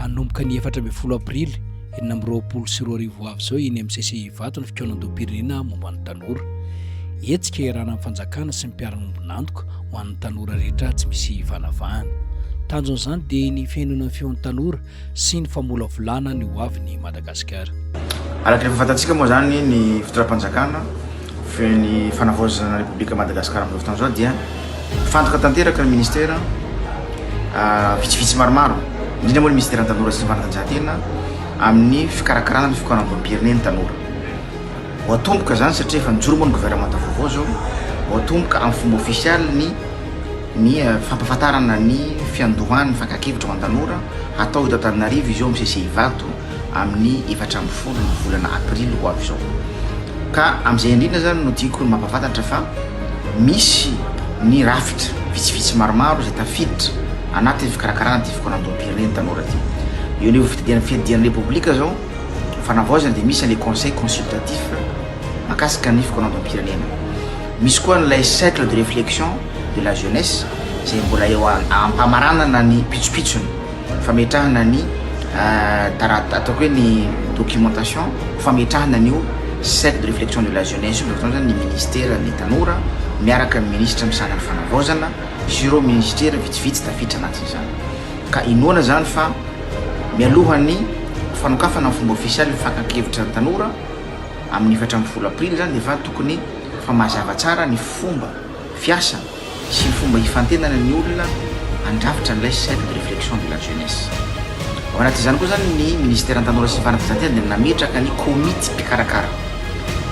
Hanomboka ny efatra ambin'ny folo aprily enina amby roapolo sy roa arivo ho avy izao eny amin'ny CCI Ivato ny fikaonandoham-pirenena momba ny tanora. Hetsika iarahana amin'ny fanjakana sy ny mpiara-miombon'antoka ho an'ny tanora rehetra tsy misy ivanavahana. Tanjon'izany dia ny fihainoana ny feon'ny tanora sy ny famolavolana ny hoavin'i Madagasikara. Araka ny efa fantatsika moa izany ny fitondram-panjakana ny fanavaozana ny Repoblika Madagasikara amin'izao fotoana izao dia mifantoka tanteraka ny ministera vitsivitsy maromaro, indrindra moa ny ministera ny tanora sy ny fanatanjahantena amin'ny fikarakarana ny fikaonandoham-pirenena ny tanora. Ho atomboka izany satria efa nijoro moa ny governemanta vaovao izao, ho atomboka amin'ny fomba ofisialy ny ny eh, fampafantarana ny fiandohan'ny fankakevitra ho an-tanora hatao eto Antananarivo izy eo amin'ny CCI Ivato amin'ny efatra ambin'ny folo ny volana aprily ho avy izao. Ka amin'izay indrindra izany no tiako ny mampahafantatra fa misy ny rafitra vitsivitsy maromaro izay tafiditra anatin'ny fikarakarana ity fikaonandoham-pirenena tanora ity. Eo anivon'ny fitadian- fiadidian'ny Repoblika izao fanavaozana dia misy ilay conseil consultatif mahakasika ny fikaonandoham-pirenena. Misy koa an'ilay cercle de réflexion de la jeunesse izay mbola eo a- am-pamaranana ny pitsopitsony. Fametrahana ny taratasy, ataoko hoe ny documentation, fametrahana an'io cercle de réflexion de la jeunesse io, dia ohatr'izany ny ministeran'ny tanora miaraka amin'ny minisitra misahana ny fanavaozana sy ireo minisitera vitsivitsy tafiditra anatin'izany. Ka inoana izany fa mialohan'ny fanokafana amin'ny fomba ofisialy ny fakan-kevitra ny tanora, amin'ny efatra ambin'ny folo aprily izany, dia efa tokony efa mazava tsara ny fomba, fiasana sy ny fomba hifantenana ny olona handrafitra an'ilay cercle de réflexion de la jeunesse. Ao anatin'izany koa izany ny Ministeran'ny Tanora sy ny Fanatanjahantena dia nametraka ny komity mpikarakara.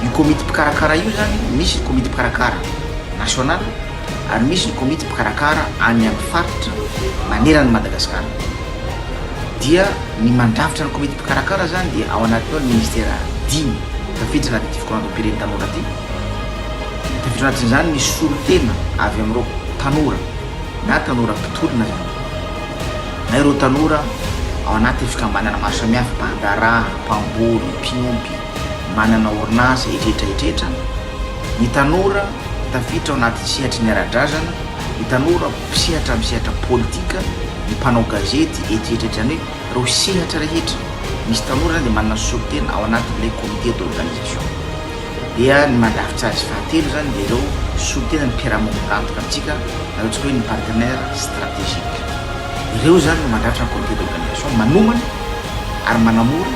Io komity mpikarakara io izany, misy ny komity mpikarakara national ary misy ny komity mpikarakara any amin'ny faritra manerana an'i Madagasikara. Dia ny mandrafitra ny komity mpikarakara izany dia ao anatin'ny ao ny Ministera dimy tafiditra anatin'ity fikarohan-dom-piren'ny tanora ity. Ankoatran'izany izany, misy solontena avy amin'ireo tanora na tanora mpitolona izany na ireo tanora ao anaty fikambanana maro samihafa, mpandraharaha, mpamboly, mpiompy, manana orinasa, etretra etretra, ny tanora tafiditra ao anaty sehatry ny ara-drazana, ny tanora mpisehatra amin'ny sehatra politika, ny mpanao gazety, etretra etretra, izany hoe ireo sehatra rehetra misy tanora izany dia manana solontena ao anatin'ilay comité d'organisation. dia ny mandrafitra azy fahatelo izany dia ireo soa tena ny mpiara-mo mirantoka amintsika na ataontsika hoe ny partenaire strategique. Ireo izany no mandrafitra ny comité d'organisation manomana ary manamora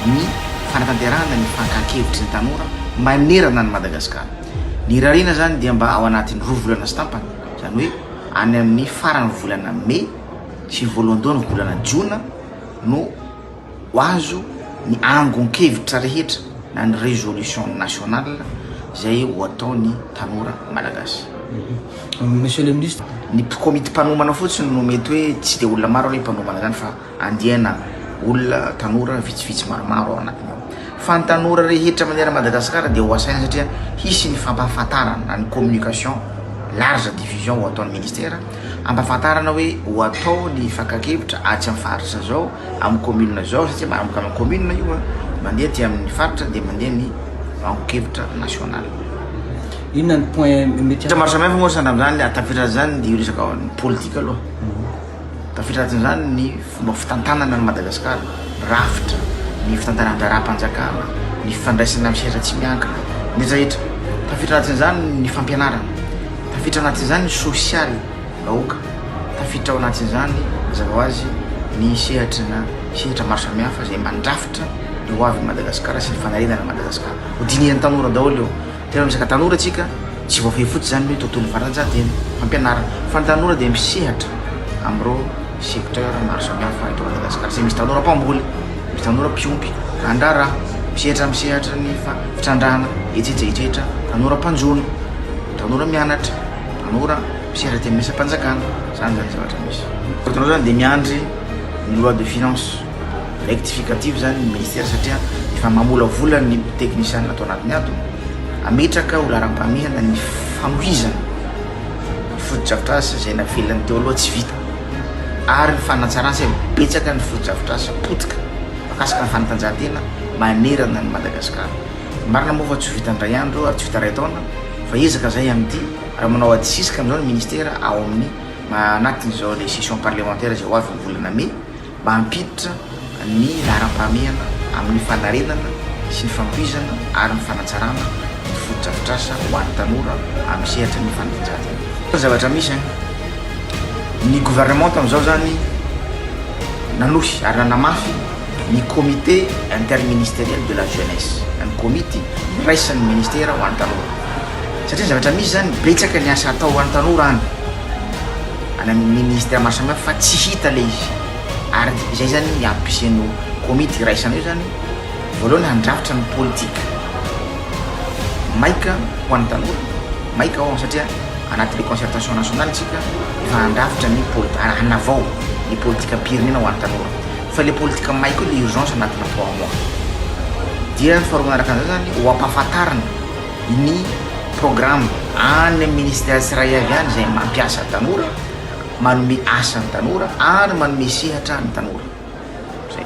ny fanatanterahana ny fankahakevitry ny tanora manerana an'i Madagasikara. Ny irariana izany dia mba ao anatin'ny roa volana sy tampany, izany hoe any amin'ny faran'ny volana mey sy ny voalohandohan'ny volana jona no Ho azo ny angon-kevitra rehetra na ny résolution nationale izay ho ataon'ny tanora malagasy. Monsieur le Ministre. Ny komity mpanomana fotsiny no mety hoe tsy dia olona maro aloha hipanomana izany fa andiana olona, tanora vitsivitsy maromaro ao anatiny ao. Fa ny tanora rehetra manerana an'i Madagasikara dia ho asaina satria hisy ny fampahafantarana na ny communication large diffusion ho ataon'ny Ministera hampahafantarana hoe ho atao ny fakan-kevitra atsy amin'ny faritra izao, amin'ny kaominina izao satria manomboka amin'ny kaominina io a, mandeha aty amin'ny faritra dia mandeha ny angon-kevitra national. Inona ny point mety Hevitra maro samihafa moa sandra amin'izany ary tafiditra an'izany dia io resaka ny politika aloha. Tafiditra anatin'izany ny fomba fitantanana an'i Madagasikara, ny rafitra, ny fitantanan-draharaham-panjakana, ny fifandraisana amin'ny sehatra tsy miankina, ny rehetra rehetra. Tafiditra anatin'izany ny fampianarana, tafiditra anatin'izany ny sosialy. vahoaka. Tafiditra ao anatin'izany, mazava ho azy, ny sehatry na sehatra maro samihafa izay mandrafitra ny ho avin'i Madagasikara sy ny fanarenana an'i Madagasikara. Hodinihin'ny tanora daholo io. Tena resaka tanora isika, tsy voafehy fotsiny izany ny hoe tontolon'ny fanatanjahantena, fampianarana, fa ny tanora dia misehatra amin'ireo secteurs maro samihafa eto Madagasikara, izay misy tanora mpamboly, misy tanora mpiompy, mpandraharaha, misehatra amin'ny sehatry ny fa- fitrandrahana, etsetra etsetra, tanora mpanjono, tanora mianatra. Tanora mpisera teny miasam-panjakana, izany izany zavatra misy. Fa ianao izany dia miandry ny loi de finance rectificative izany ny ministera satria efa mamolavola ny teknisianina ato anatiny ato, hametraka ho laharam-pahamehana ny fanohizana ny fotodrafitrasa izay navelany teo aloha tsy vita ary ny fanatsarana satria betsaka ny fotodrafitrasa potika mikasika ny fanatanjahantena manerana an'i Madagasikara. Marina moa fa tsy ho vita indray andro ary tsy ho vita iray taona fa ezaka izay amin'ity raha manao adisisika amin'izao ny ministera ao amin'ny anatin'izao ilay session parlementaire izay ho avy ny volana mey mba hampiditra ny laharam-pahamehana amin'ny fanarenana sy ny fanohizana ary ny fanatsarana ny fotodrafitrasa ho an'ny tanora amin'ny sehatry ny fanatanjahantena. Fa ny zavatra misy an! ny gouvernement tamin'izao izany nanohy ary nanamafy ny Comité interministériel de la jeunesse, ny komity iraisan'ny ministera ho an'ny tanora. Satria ny zavatra misy zany, betsaka ny asa atao ho an'ny tanora any, any amin'ny ministère maro samihafa fa tsy hita le izy. Ary izay zany ny ampisen'io komity iraisana io zany, voalohany handrafitra ny politique maika ho an'ny tanora, maika hono satria anatin'ny concertation nationale tsika efa handrafitra ny poli- hanavao ny politikam-pirenena ho an'ny tanora. Fa le politika may koa le urgence anatina trois mois dia faharoa manaraka an'izay zany ho ampahafantarina ny programme any amin'ny ministère tsiraiavy any izay mampiasa ny tanora, manome asa ny tanora ary manome sehatra ny tanora. Zay.